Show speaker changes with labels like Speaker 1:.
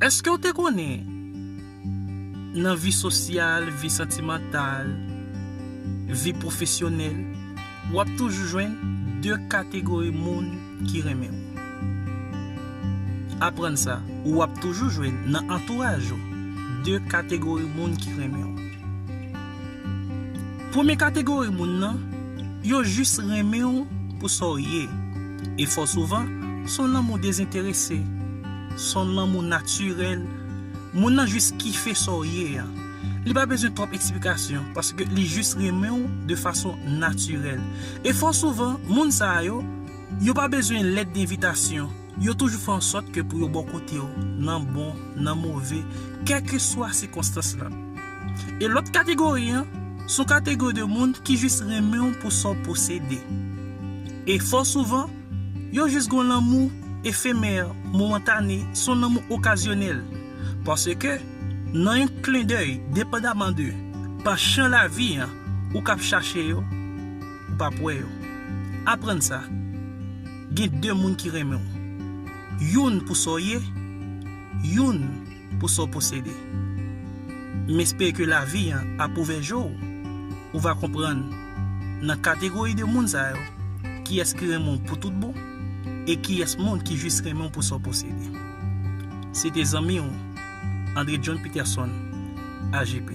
Speaker 1: Eske w te konnen nan vi sosyal, vi santimantal, vi pwofesyonèl, w ap toujou jwenn 2 kategori moun ki renmen w? Aprann sa, w ap toujou jwenn nan antouraj ou 2 kategori moun ki renmen w. Premye kategori moun nan, yo jis renmen w pou sa w ye. E fò souvan, s on lanmou dezenterese. S on lanmou natirèl. Moun nan jis kife sa w ye a. Li pa bezwen twòp eksplikasyon, paske li jis renmen w de fason natirèl. E fò souvan, moun sa yo, yo pa bezwen lèt denvitasyon. Yo toujou fè an sòt ke pou yo bò kote w, nan bon, nan move, kèlkeswa sikonstans lan. E lòt kategori an, s on kategori de moun ki jis renmen w pou sa w posede. E fò souvan, yo jis gon lanmou efemè, momentane, s on lanmou okazyonèl. Paske, nan yon klendèy, depandaman de panchan lavi an, ou kab chache yo, ou pap wè yo. Aprann sa. Gen de moun ki renmen w. Youn pou sa w ye, youn pou sa w posede. M espere ke lavi an ap ouvè je w, ou va konprann nan kategori de moun sa yo kiyès ki renmen w pou tout bon e kiyès moun ki jis renmen w pou sa w posede. Se te zanmi w Andre John Peterson, AJP.